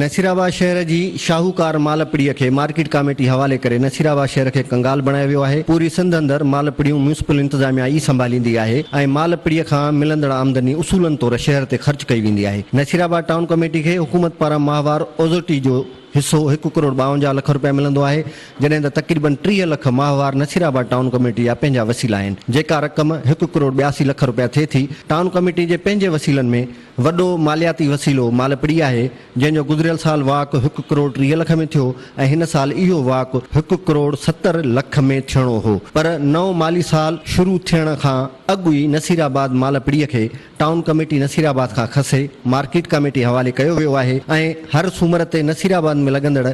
نصيرآباد شهر جي شاهوڪار مالهپڙي کي مارڪيٽ ڪاميٽي حوالي ڪري نصيرآباد شهر کي ڪنگال بڻايو ويو آهي، پوري سنڌ اندر مالهپڙيون ميونسپل انتظاميا ئي سنڀاليندي آهي ۽ مالهپڙي کان ملندڙ آمدني اصولن طور شهر تي خرچ ڪئي ويندي آهي، نصيرآباد ٽائون ڪاميٽي کي حڪومت پاران ماهوار اوزٽي جو حصو هڪ ڪروڙ ٻاونجاهه لک روپيا ملندو آهي، جڏهن ته تقريبن ٽيهه لک ماهوار نصيرآباد ٽائون ڪميٽي جا پنهنجا وسيلا آهن، جيڪا رقم هڪ ڪروڙ ٻياسي لک روپيا ٿئي ٿي، ٽائون ڪميٽي جي پنهنجي وسيلن ۾ وڏو مالياتي وسيلو مالپڙي آهي، جنهن جو گذريل سال واهڪ هڪ ڪروڙ ٽيهه لک ۾ ٿيو ۽ هن سال اهو واهڪ هڪ ڪروڙ ستر لک ۾ ٿيڻو هو، پر نئون مالي سال شروع ٿيڻ کان اڳ ئي نصيرآباد مالپڙي کي ٽائون ڪميٽي نصير آباد کان کسي مارڪيٽ ڪاميٽي حوالي ڪيو ويو آهي ۽ هر سومر تي نصير آباد ۾ لڳندڙ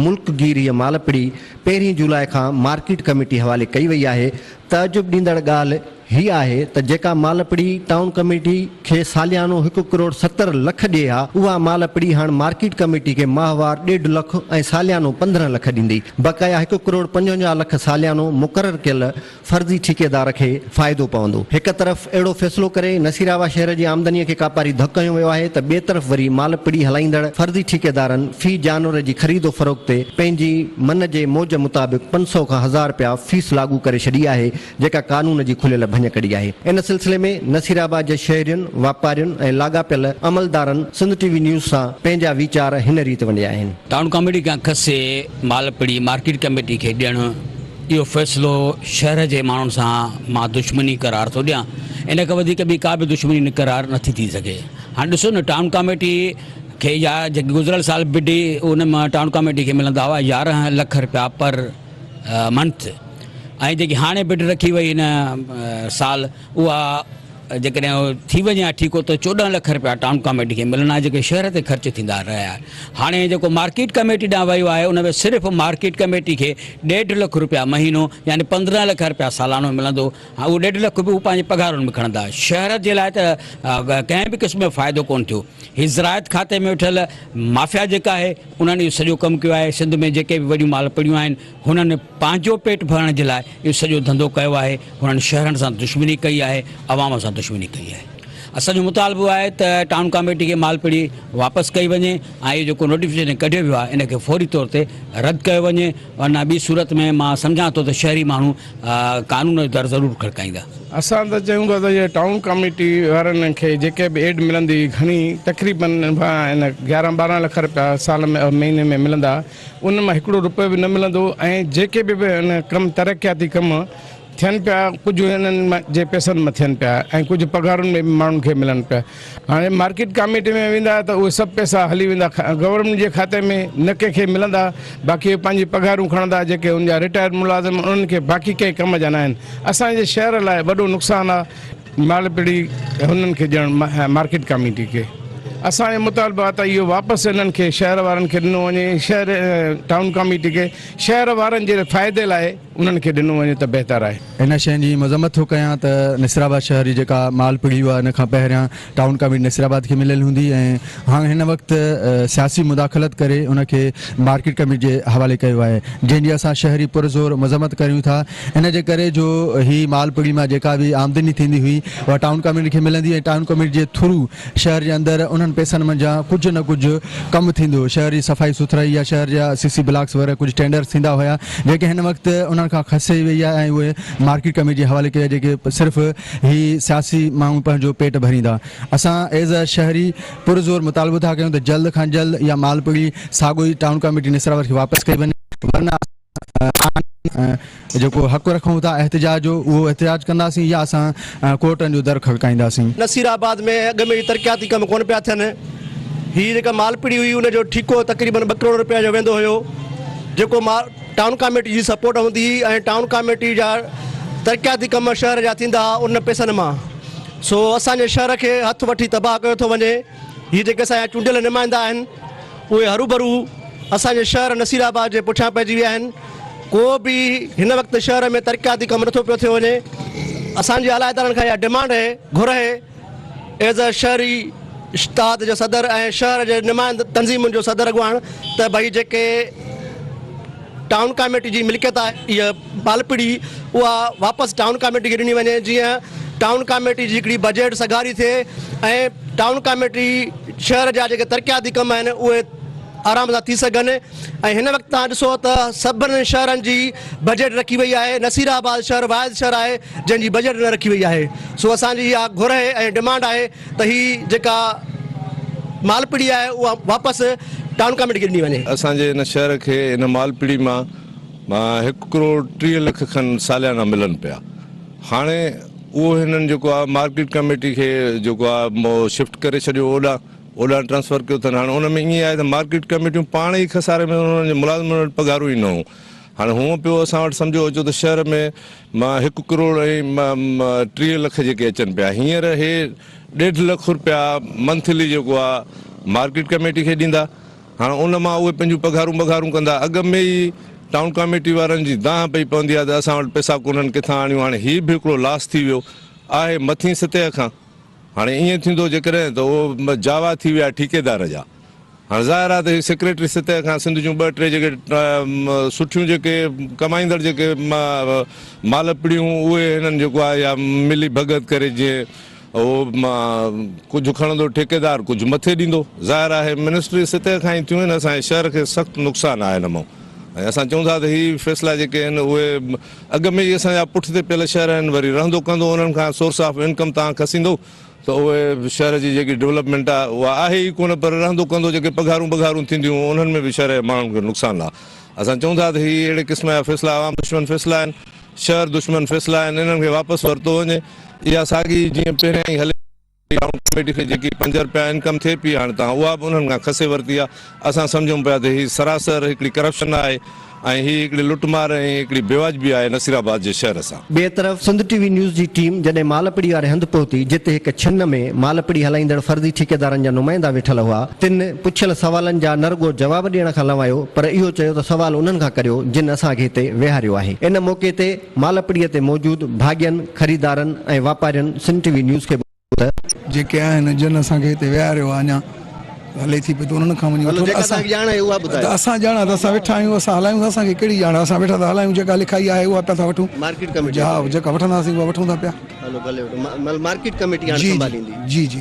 ملڪ گيريء مالپڙي پهرين جولاء کان مارڪيٽ ڪميٽي حوالي ڪئي وئي آهي تعجب ڏيندڙ ڳالهه هي آهي ته جيڪا مالپڙي ٽائون ڪميٽي کي ساليانو هڪ ڪروڙ ستر لک ڏئي ها اها مالپڙي هاڻ مارڪيٽ ڪميٽي کي ماهوار ڏيڍ لک ۽ ساليانو پندرهن لک ڏيندي بقايا هڪ ڪروڙ پنجونجاهه لک ساليانو مقرر ڪيل فرضي ٺيڪيدار کي فائدو پوندو، هڪ طرف اهڙو فيصلو ڪري نصيرآباد شهر جي آمدنيء کي ڪاپاري ڌڪ هنيو ويو آهي ته ٻئي طرف وري مال پڙي هلائيندڙ فرضي ٺيڪيدارن في جانور جي خريد و فروخت تي پنهنجي من جي موج مطابق پنج سؤ کان هزار رپيا فيس لاڳو ڪري ڇڏي آهي جيڪا قانون جي کليل ڀڃڪڙي آهي ان سلسلي ۾ نصيرآباد جي شهرين واپارين ۽ لاڳاپيل عملدارن سنڌ ٽي وي نيوز سان پنهنجا ويچار هن ريت ونڊيا آهن. ٽائون ڪاميٽي کان کسي مال پڙي مارڪيٽ ڪميٽي کي ڏيڻ. اهو فيصلو شهر جي ماڻهن سان مان دشمني قرار ٿو ڏيان. ان کان وڌيڪ ٻي ڪا به دشمني نه قرار نه ٿي ٿي سگهي. هاڻ ڏسو نه ٽائون ڪاميٽي کي يا جيڪي گذريل سال به ڊي ان مان ٽائون ڪاميٽي کي ملندا هئا يارهن لک رپيا پر منٿ ۽ جيڪي هاڻي بڊ رکي وئي هن سال اها جيڪڏهن ٿي وڃي ها ٺيڪو ته چوڏهن لک رپيا ٽائون ڪاميٽي کي ملڻا آهن جيڪي شهر تي خرچ ٿيندا رهيا هاڻي جيڪو مارڪيٽ ڪاميٽي ڏانهن ويو آهي ان ۾ صرف مارڪيٽ ڪاميٽي کي ڏيڍ لک رپيا مهينو يعني پندرهن لک رپيا سالانو ملندو اهو ڏيڍ لک به هو پنهنجي پگهارن ۾ کڻندا شهر جي لاء ته ڪنهن به قسم جو فائدو ڪون ٿيو هي زراعت کاتي ۾ ويٺل مافيا جيڪا آهي انهن اهو سڄو ڪم ڪيو آهي سنڌ ۾ جيڪي به وڏيون مال پڙيون آهن هنن پنهنجو پيٽ ڀرڻ جي لاء اهو سڄو ڌنڌو ڪيو آهي، هنن شهرن سان دشمني ڪئي آهي، عوام سان دشمني ڪئي آهي. اسان جو مطالبو آهي ته ٽائون ڪاميٽي کي مالپڙي واپس ڪئي وڃي ۽ اهو جيڪو نوٽيفڪيشن ڪڍيو ويو آهي ان کي فوري طور تي رد ڪيو وڃي ورنه ٻي صورت ۾ مان سمجهان ٿو ته شهري ماڻهو قانون جو در ضرور کڙڪائيندا. اسان ته چيون ٿا ته اهي ٽائون ڪاميٽي وارن کي جيڪي به ايڊ ملندي گهڻي تقريبن ان گهارهن ٻارهن لک رپيا سال ۾ مهيني ۾ ملندا ان مان هڪڙو روپيو به نه ملندو ۽ جيڪي به ڪم ترقياتي ڪم ٿين پيا ڪجهه انهن جي پئسن مان ٿين پيا ۽ ڪجهه پگهارن ۾ به ماڻهن کي ملن پيا هاڻي مارڪيٽ ڪاميٽي ۾ ويندا ته اهي سڀ پئسا هلي ويندا گورنمينٽ جي کاتي ۾ نه ڪنهن کي ملندا باقي اهي پنهنجي پگهارون کڻندا جيڪي ان جا رٽائرڊ ملازم انهن کي باقي ڪنهن ڪم جا نه آهن اسان جي شهر لاء وڏو نقصان آهي مالپڙي هنن کي ڏيڻ مارڪيٽ ڪاميٽي کي اسان جو مطالبو آهي ته اهو واپس انهن کي شهر وارن کي ڏنو وڃي شهر ٽائون ڪاميٽي کي شهر وارن جي فائدي لاء انهن کي ڏنو وڃي ته بهتر آهي. ان شين جي مذمت ٿو ڪيان ته نصرآباد شهر جي جيڪا مالپڙي هئا ان کان پهريان ٽائون ڪاميٽي نصرآباد کي مليل هوندي ۽ هاڻ هن وقت سياسي مداخلت ڪري ان کي مارڪيٽ ڪاميٽي جي حوالي ڪيو آهي جنهن جي اسان شهري پرزور مذمت ڪريون ٿا. ان جي ڪري جو هي مال پڙي مان جيڪا به آمدني ٿيندي هئي اها ٽائون ڪاميٽي کي ملندي ۽ ٽائون ڪاميٽي جي ٿرو شهر جي اندر انهن پئسن منجهان ڪجهه نه ڪجهه ڪم ٿيندو هو شهر جي صفائي سٿرائي يا شهر جا سي سي بلاڪس وغيره ڪجهه ٽينڊرس ٿيندا هيا جيڪي هن وقت انهن کان کسي وئي آهي ۽ اهي مارڪيٽ ڪاميٽي جي حوالي ڪئي آهي جيڪي صرف هي سياسي ماڻهو پنهنجو پيٽ ڀريندا اسان ايز ا شهري پرزور مطالبو ٿا ڪيون ته جلد کان جلد اها مال پڙي ساڳو ئي ٽائون ڪاميٽي نسراور کي واپس ڪئي وڃي ورنه اسان آهن ۽ جيڪو حق رکون ٿا احتجاج جو اهو احتجاج ڪنداسين يا اسان ڪورٽن جو در کڙڪائينداسين. نصير آباد ۾ اڳ ۾ ئي ترقياتي ڪم ڪونه پيا ٿين، هي جيڪا مالپڙي هئي ان جو ٺيڪو تقريبن ٻه ڪروڙ روپين جو ويندو هيو جيڪو ٽائون ڪاميٽي جي سپورٽ هوندي هئي ۽ ٽائون ڪاميٽي جا ترقياتي ڪم شهر جا ٿيندا هئا ان پئسن مان سو اسان جي شهر کي هٿ وٺي تباهه ڪيو ٿو وڃي. هي جيڪي اسان جا چونڊيل نمائندا آهن اهي هروڀرو اسان جي شهر نصير آباد جي پٺيان پئجي ويا آهن ڪو به هن وقت شهر ۾ ترقياتي ڪم نٿو پيو ٿيو وڃي اسان جي اعليٰ ادارن کان اها ڊمانڊ هي گهر هي ايز اي شهري اشتاد جي صدر ۽ شهر جي نمائند تنظيمن جو صدر اڳواڻ ته ڀئي جيڪي ٽائون ڪاميٽي جي ملڪيت آهي اها ٻالپڙي اها واپس ٽائون ڪاميٽي کي ڏني وڃي جيئن ٽائون ڪاميٽي جي هڪڙي بجيٽ سگهاري ٿئي ۽ ٽائون ڪاميٽي شهر جا جيڪي ترقياتي ڪم آهن اهي آرام سان ٿي سگهن ۽ هن وقت تان ڏسو ته سڀن شهرن جي بجيٽ رکي وئي آهي نصير آباد شهر واحد شهر آهي جنهن جي بجيٽ نه رکي وئي آهي سو اسان جي اها گهر آهي ۽ ڊمانڊ آهي ته هي جيڪا مالپڙي آهي اها واپس ٽائون ڪاميٽي کي ڏني وڃي. اسان جي هن شهر کي هن مالپڙي مان مان هڪ ڪروڙ ٽيهه لک کن ساليانا ملن پيا هاڻي اهو هنن جيڪو آ مارڪيٽ ڪميٽي کي جيڪو آ شفٽ ڪري ڇڏيو اوڏا اوڏانهن ٽرانسفر ڪيو اٿن هاڻي ان ۾ ائين آهي ته مارڪيٽ ڪميٽيون پاڻ ئي خساري ۾ انهن جي ملازمن وٽ پگهارون ئي نه هون هاڻي هونء پيو اسان وٽ سمجهو اچو ته شهر ۾ مان هڪ ڪروڙ ۽ ٽيهه لک جيڪي اچن پيا هينئر هي ڏيڍ لک رپيا منٿلي جيڪو آ مارڪيٽ ڪميٽي کي ڏيندا هاڻ ان مان اهي پنهنجون پگهارون ٻگهارون ڪندا. اڳ ۾ ئي ٽائون ڪاميٽي وارن جي دانهن پئي پوندي آهي ته اسان وٽ پئسا ڪونهن ڪٿان آڻيون هاڻي هي به هڪڙو لاس ٿي ويو آهي مٿين سطح کان هاڻي ائين ٿيندو جيڪڏهن ته اهو جاوا ٿي ويا ٺيڪيدار جا هاڻ ظاهر آهي ته هي سيڪريٽري سطح کان سنڌ جون ٻه ٽي جيڪي سٺيون جيڪي ڪمائيندڙ جيڪي مالپڙيون اهي هنن جيڪو آهي يا ملي ڀڳت ڪري جيئن اهو ڪجهه کڻندو ٺيڪيدار ڪجهه مٿي ڏيندو. ظاهر آهي منسٽري سطح کان ئي ٿيون آهن اسان جي شهر کي سخت نقصان آهي ان مان ۽ اسان چئون ٿا ته هي فيصلا جيڪي آهن اهي اڳ ۾ ئي اسان جا پٺتي پيل شهر آهن وري رهندو ڪندو انهن کان سورس آف انڪم تان کسيندو ته اهي شهر جي جيڪي ڊولپمينٽ آهي اها آهي ئي ڪونه پر رهندو ڪندو جيڪي پگهارون بگهارون ٿينديون انهن ۾ به شهر جي ماڻهن کي نقصان آهي اسان چئون ٿا ته هي اهڙي قسم جا فيصلا عوام دشمن فيصلا آهن شهر دشمن فيصلا آهن انهن کي واپس ورتو وڃي اها ساڳي جيئن پهريائين هلي رهي آهي ٽائون ڪميٽي کي جيڪي پنج رپيا انڪم ٿئي پئي هاڻ تان اها به انهن کان کسي ورتي آهي اسان سمجهون پيا ته هي سراسر هڪڙي ڪرپشن آهي ۽ هي هڪڙي لٽ مار ۽ هڪڙي بيواجبي آهي نصيرآباد جي شهر سان. ٻئي طرف سنڌ ٽي وي نيوز جي ٽيم جڏهن مالپڙي واري هنڌ پهتي جتي هڪ ڇن ۾ مالپڙي هلائيندڙ فرضي ٺيڪيدارن جا نمائندا ويٺل هئا تن پڇيل سوالن جا نه رڳو جواب ڏيڻ کان لنوائيو پر اهو چيو ته سوال انهن کان ڪريو جن اسان کي هتي ويهاريو آهي. ان موقعي تي مالهپڙي تي موجود ڀاڳين، خريدارن ۽ واپارين سنڌ ٽي وي نيوز کي ٻڌايو ته. جيڪي آهن جن اسان کي هتي ويهاريو آهي اڃا هلي ٿي پئي ته انهن کان وڃي وٺو ته اسان ڄاڻ آهي ته اسان ويٺا آهيون اسان هلايون ٿا اسان کي ڪهڙي ڄاڻ آهي اسان ويٺا ٿا هلايون جيڪا لکائي آهي اها پيا ٿا وٺون جا جيڪا وٺنداسين اها وٺون ٿا پيا جي جي جي جي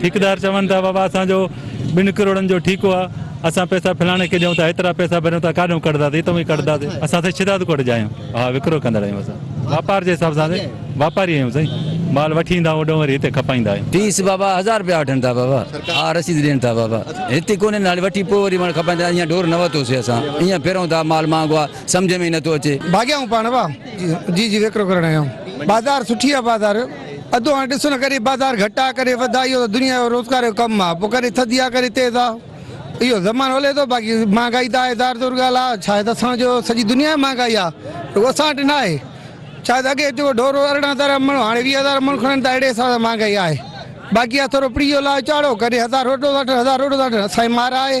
ٺيڪيدار چون ٿا بابا اسان جو ٻن ڪروڙن جو ٺيڪو آ اسان پئسا فلاڻي کي ڏيون ٿا ايترا پئسا ڀريون ٿا ڪاڏون ڪڍداسين اتئون ئي ڪڍداسين اسان سائين شھداد ڪوٽ جا آھيون ھا وڪرو ڪندڙ آھيون اسان واپار جي حساب سان سائين واپاري آھيون سائين مال وٺي ايندا ھوڏئون وري ھتي کپائيندا آھيون. فيس بابا ھزار رپيا وٺن ٿا بابا ھا رسيد ڏين ٿا بابا ھتي ڪونھي ھالي وٺي پوء وري مال کپائيندا ايئن ڍور نه ورتو سي اسان ايئن ڦرون ٿا مال مھانگو آ سمجھ ۾ ئي نه ٿو اچي. ڀاڳيا آھيون پاڻ ڀا جي جي وڪرو ڪرڻ آيا آھيون بازار سٺي آ بازار. ادو هاڻ ڏس نه ڪري بازار گهٽ آ ڪري وڌ آ اهو ته دنيا جو روزگار جو ڪم آ پو ڪري ٿڌي آ ڪري تيز آ اهو زمانو هلي ٿو باقي مهانگائي ته آهي ظاهر طور ڳالهه آ ڇا هي ته اسان جو سڄي دنيا ۾ مهانگائي آ رڳو اسان وٽ نه آهي ڇا ته اڳي جيڪو ڍور هو ارڙهن هزار مڻ هاڻي ويهه هزار مڻ کڻن ٿا اهڙي حساب سان مهانگائي آهي باقي آ ٿورو پري جو لاء چاڙهو ڪري هزار روٽو ٿا ٺهن هزار روٽو ٿا ٺهن اسان جي مار آهي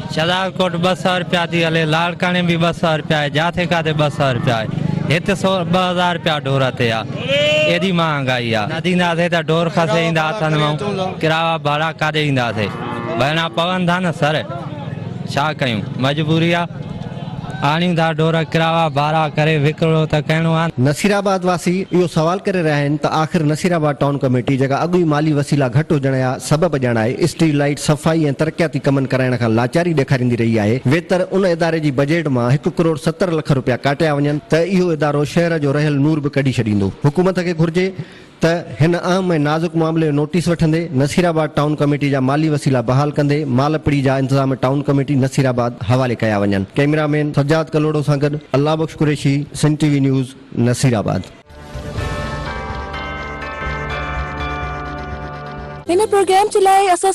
شھداد ڪوٽ ٻه سئو رپيا ٿي ھلي، لاڙڪاڻي به ٻه سئو رپيا آھي، جاٿي ڪاٿي ٻه سئو رپيا آھي، ھت سو ٻه ھزار رپيا ڍور تي آ، ايڏي مھانگائي آ، نه ڏينداسين ته ڍور کسي ايندا ھٿن مئون، ڪراوا ڀاڙا ڪاڏي اينداسين، ڀرڻا پون ٿا نه سر، ڇا ڪيون، مجبوري آ. آڻيون ٿا ڍور ڪراوا ڀارا ڪري وڪرو ته ڪهڻو آ. نصيرآباد واسي اهو سوال ڪري رهيا آهن ته آخر نصيرآباد ٽائون ڪميٽي جيڪا اڳ ئي مالي وسيلا گهٽ هجڻ يا سبب ڄاڻائي اسٽريٽ لائيٽ صفائي ۽ ترقياتي ڪمن ڪرائڻ کان لاچاري ڏيکاريندي رهي آهي ويتر ان اداري جي بجيٽ مان هڪ ڪروڙ ستر لک روپيا ڪاٽيا وڃن ته اهو ادارو شهر جو رهيل نور به ڪڍي ڇڏيندو حڪومت کي گهرجي ته هن اهم ۽ نازڪ معاملي جو نوٽيس وٺندي نصير آباد ٽائون ڪميٽي جا مالي وسيلا بحال ڪندي مالپڙي جا انتظام ٽائون ڪميٽي نصير آباد حوالي ڪيا وڃن ڪئميرا مين سجاد ڪلهوڙو سان گڏ الله بخش قريشي سنڌ ٽي وي نيوز نصير آباد. هن پروگرام جي لاء اسان.